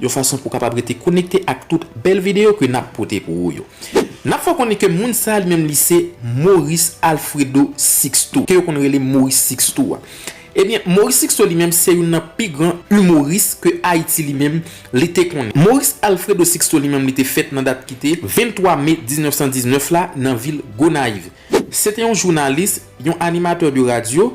Yon fason pou kapab rete konekte ak tout bèl videyo ke nap pote pou ou yo. Nap fè w konnen ke moun sa li menm li se Maurice Alfredo Sixto, ke yo konn rele Maurice Sixto a. Ebyen, Maurice Sixto li menm se youn nan pi gran humoris ke Ayiti li menm li te konnen. Maurice Alfredo Sixto li menm li te fèt nan dat ki te 23 me 1919 la nan vil Gonayiv. Se te yon jounalis, yon animateur de radio,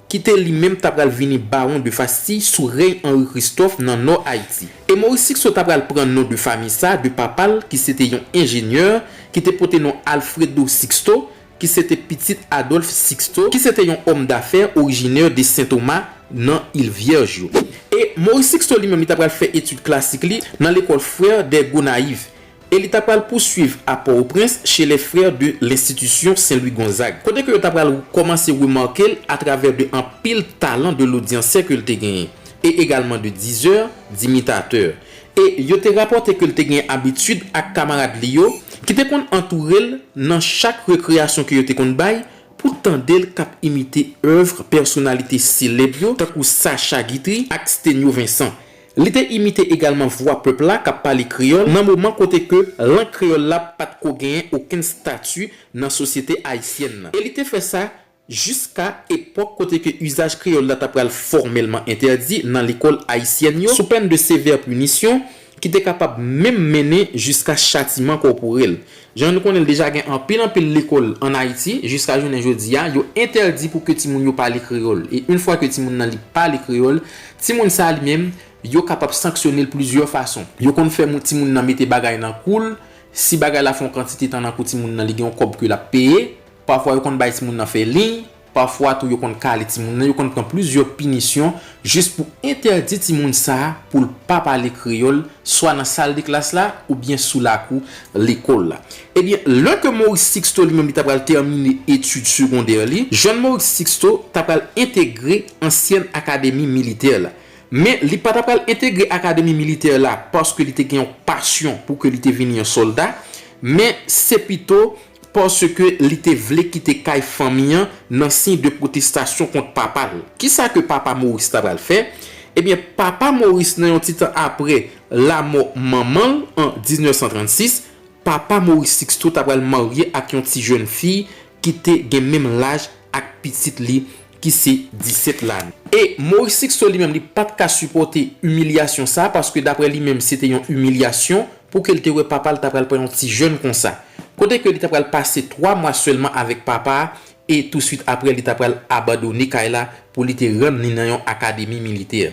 ki te li menm ta pral vini Bawon de Fastille sou rèy Anri Kristòf nan Nò Ayiti. E Moris Sikso ta pral pran non de fami sa de papa l ki sete yon enjenyè ki te pote non Alfredo Sixto ki sete pitit Adòlf Siksto ki sete yon òm dafè orijinè de Sen Toma nan Il Vyèj yo. E Moris Siksto li menm li ta pral fè etid klasik li nan lekòl Frères des Gonaïves e li ta pral pouswiv a Pò-o-Prens che les frères de l'institution Saint Louis Gonzague, kote ke yo ta pral kòmanse remake l a travè de anpil talan de lodyansè ke l te genyen, e egalman de dizè, dimitatè. E yo te rapòte ke l te genyen abitid ak kamarad li yo, ki te konn antoure l nan chak rekreyasyon ke yo te konn bay, pou tande l k ap imite èuvre pèsonalite selèb yo tankou Sacha Guitry ak Stenio Vincent. Li te imite egalman vwa pèp la k ap pale kreyòl nan moman kote ke lang kreyòl la pa t ko genyen okenn stati nan sosyete ayisyèn nan. E li te fè sa jiska epòk kote ke izaj kreyòl la ta pral fòmèlman entèdi nan lekòl ayisyèn yo sou pèn de sevè pinisyon ki te kapab menm mennen jiska chatiman kòporèl. Jan nou konnen l deja gen anpil anpil lekòl an Ayiti, jiska jounen jodi a, yo entèdi pou ke timoun yo pale kreyòl. E yn fwa ke timoun nan li pale kreyòl, timoun sa li menm, yo kapab sanksyone l plizyè fason. Yo konn fè moun timoun nan mete bagay nan kou l, si bagay la fè yon kantite tan nan kou timoun nan li gen yon kòb ke l ap peye. Pafwa yo konn bay timoun nan fè liy. Pafwa tou yo konn kale timoun nan, yo konn pran plizyè pinisyon jis pou entèdi timoun sa a pou l pa pale kreyòl swa nan sal de klas la oubyen sou lakou lekòl la. Ebyen, lè ke Maurice Sixto li menm li ta pral tèmine etid segondè li, jèn Maurice Sixto ta pral entegre ansyèn akademi militè la. Men, li pa ta pral entegre akademi militè la paske li te gen yon pasyon pou ke li te vini yon sòlda, men se pito Paske li te vle kite kay fanmi an nan siy de pwotestasyon kont papa l. Kisa ke papa Maurice ta pral fè? Ebyen, papa Maurice nan yon ti tan apre lamò manman l an 1936, papa Maurice Sixto ta pral marye ak yon ti jèn fi ki te gen menm laj ak pitit li ki se 17 lane. E Maurice Sixto li menm li pat ka sipòte imilyasyon sa paske daprè li menm se te yon imilyasyon pou ke li te wè papa li ta pral pran yon ti jèn konsa. Kote ke li ta pral pase 3 mwa sèlman avèk papa a e tou swit aprè li ta pral abandone kay la pou li te rann li nan yon akademi militè.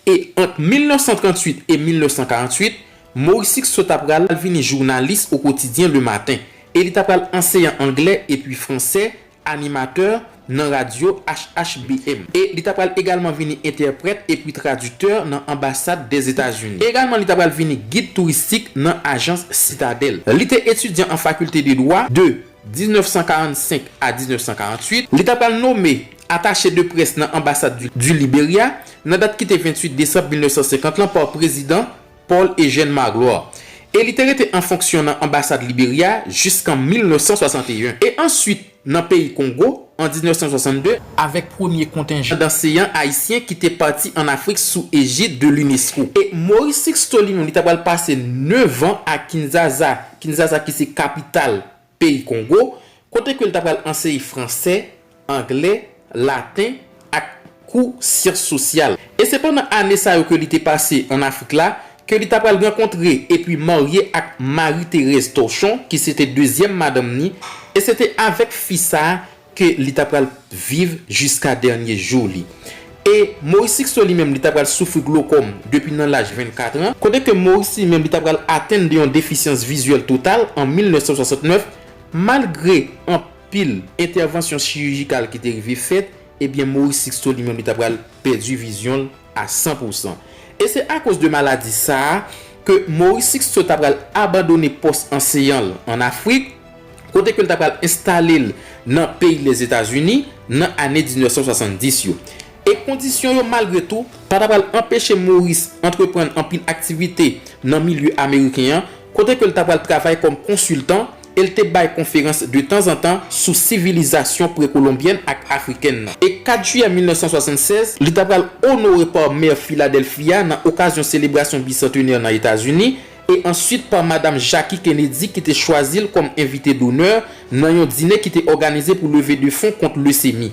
E ant 1938 e 1948, Maurice Sixto ta pral vini jounalis o kotidyen Le Matin e li ta pral anseyan anglè epi fransè animatè nan radyo HHBM, e li ta pral egalman vini entèprèt epi tradiktè nan anbasad Dèzetazini. Egalman li ta pral vini gid touristik nan ajans Sitadèl. Li te etidyan an fakilte de dwa de 1945 a 1948. Li ta pral nome atache de près nan anbasad du Liberya nan dat ki te 28 desanm 1950 lan pa prezidan. Paul Eugène Magloire, e li te rete an fonksyon nan anbasad Liberya jiskan 1961, e answit nan peyi Kongo an 1962, avèk premye kontenjan danseyan ayisyen ki te pati an Afrik sou ejid de l'UNESCO. E Maurice Sixto li menm li ta pral pase 9 an a Kinzasa, Kinzasa ki se kapital peyi Kongo, kote ke l ta pral anseye franse, angle, laten ak kou syans sosyal. E se pandan ane sa yo ke li te pase an Afrik la, ke li ta pral rankontre epi marye ak Marie Thérèse Torchon ki se te dezyèm madanm ni, e se te avèk fi sa ke li ta pral viv jiska dènye jou li. E Maurice Sixto li menm li ta pral soufri glokòm depi nan laj 24 an, kote ke Maurice li menm li ta pral atenn de yon defisyans vizyèl total an 1969, malgre anpil entèvansyon chirijikal ki te rive fèt, ebyen Maurice Sixto li menm li ta pral pèdi vizyon l. a 100 pou 100. E se akoz de maladi sa a ke Maurice Sixto ta pral abandone pòs anseyan l an Afrik, kote ke l ta pral enstale l nan peyi Lèzetazini nan ane 1970 yo. E kondisyon yo, malgre tou, pa ta pral anpeche Maurice antreprann anpil aktivite nan milye ameriken an, kote ke l ta pral travay kòm konsiltan, e l te bay konferans de tanzantan sou sivilizasyon prekolonbyèn ak afrikèn nan. E 4 jiyè 1976, li ta pral onore pa Mè Filadèlfi a nan okazyon selebrasyon bisantenè nan Etazini, e answit pa Madam Jackie Kennedy ki te chwazi l kòm envite donè nan yon dine ki te òganize pou leve de fon kont lesemi.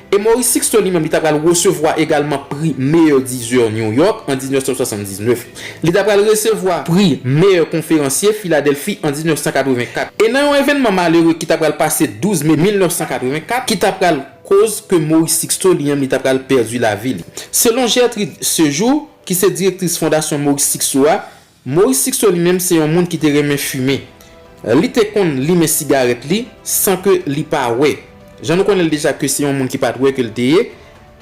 E Maurice Sixto li menm li ta pral resevwa egalman pri Meyè Dizè New York an 1979. Li ta pral resevwa pri Meyè Konferansye Filadèlfi an 1984. E nan yon evènman malere ki ta pral pase 12 me 1984, ki ta pral koz ke Maurice Sixto li menm li ta pral pèdi lavi li. Selon Gertrude Sejour, ki se direktris Fondasyon Maurice Sixto a, Maurice Sixto li menm se yon moun ki te renmen fimen. Li te konn limen sigarèt li san ke li pa wè. Jan nou konnen l deja ke se yon moun ki pa t wè ke l te ye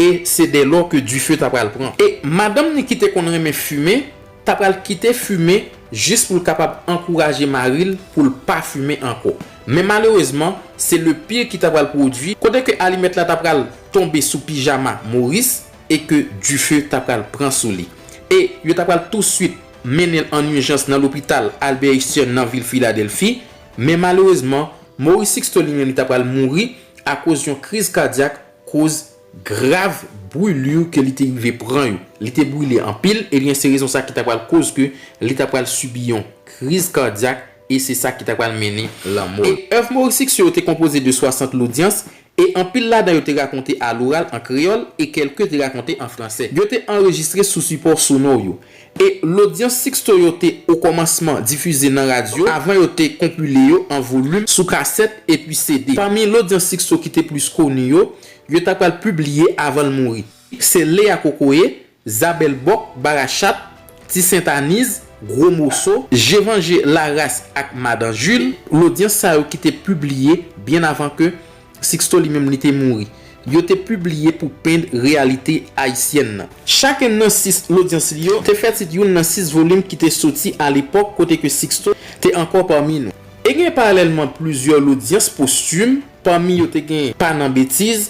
e se dè lò ke dife ta pral pran. E madanm ni ki te konn renmen fimen ta pral kite fimen jis pou l kapab ankouraje mari l pou l pa fimen ankò. Men malerezman, se le pire ki ta pral pwodui, kote ke alimèt la ta pral tonbe sou pijama Maurice. e ke dife ta pral pran sou li, e yo ta pral tousuit mennen l an ijans nan lopital Albert Einstein nan vil Filadelfi, men malerezman, Maurice Sixto li menm li ta pral mouri akoz yon kriz kadyak koz grav brulure ke li te rive pran yo. Li te brile anpil, ebyen se rezon sa ki ta pral koz ke li ta pral sibi yon kriz kadyak e se sa ki ta pral mennen lanmò l. E èv Maurice Sixto yo te konpoze de 60 lodyans, E anpil ladan yo te rakonte aloral an kreyòl e kèlke te rakonte an fransè. Yo te anrejistre sou sipò sonò yo. E lodyans Sixto yo te okòmansman difize nan radyo avan yo te konpile yo an volim sou kasèt epi CD. Pami lodyans Sixto ki te plis koni yo, yo ta pral pibliye avan l mouri. Se Lea Kokoye, Zabèlbòk, Barachat, Ti Sentaniz, Gwo Moso, Jevanje, Laras ak Madan Jil, lodyans sa yo ki te pibliye byen avan ke Siksto li menm li te mouri, yo te pibliye pou pend reyalite ayisyèn nan. Chakenn nan sis lodyans li yo te fè tit youn nan sis volim ki te soti alepòk kote ke Siksto te ankò pami nou. E gen paralèlman plizyè lodyans postim, pami yo te gen Pa nan Betiz,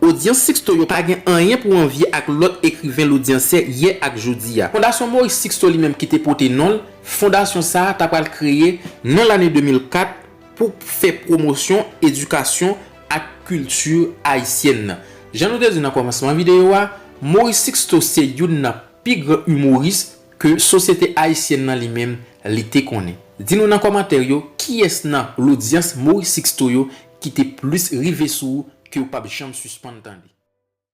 Odyans Sixto yo pa gen anyen pou anvye ak lòt ekriven lodyansè yè ak jodi a. Fondasyon Maurice Sixto li menm ki te pote non l, fondasyon sa a ta pral kreye nan lane 2004 pou fè pwomosyon edikasyon ak kilti ayisyèn nan. Jan nou te di nan kòmansman videyo a, Maurice Sixto se youn nan pi gran imouris ke sosyete ayisyèn nan li menm li te konnen. Di nou nan kòmantè yo kiyès nan lodyans Maurice Sixto yo ki te plis rive sou ou ke ou pap janm sispann tande.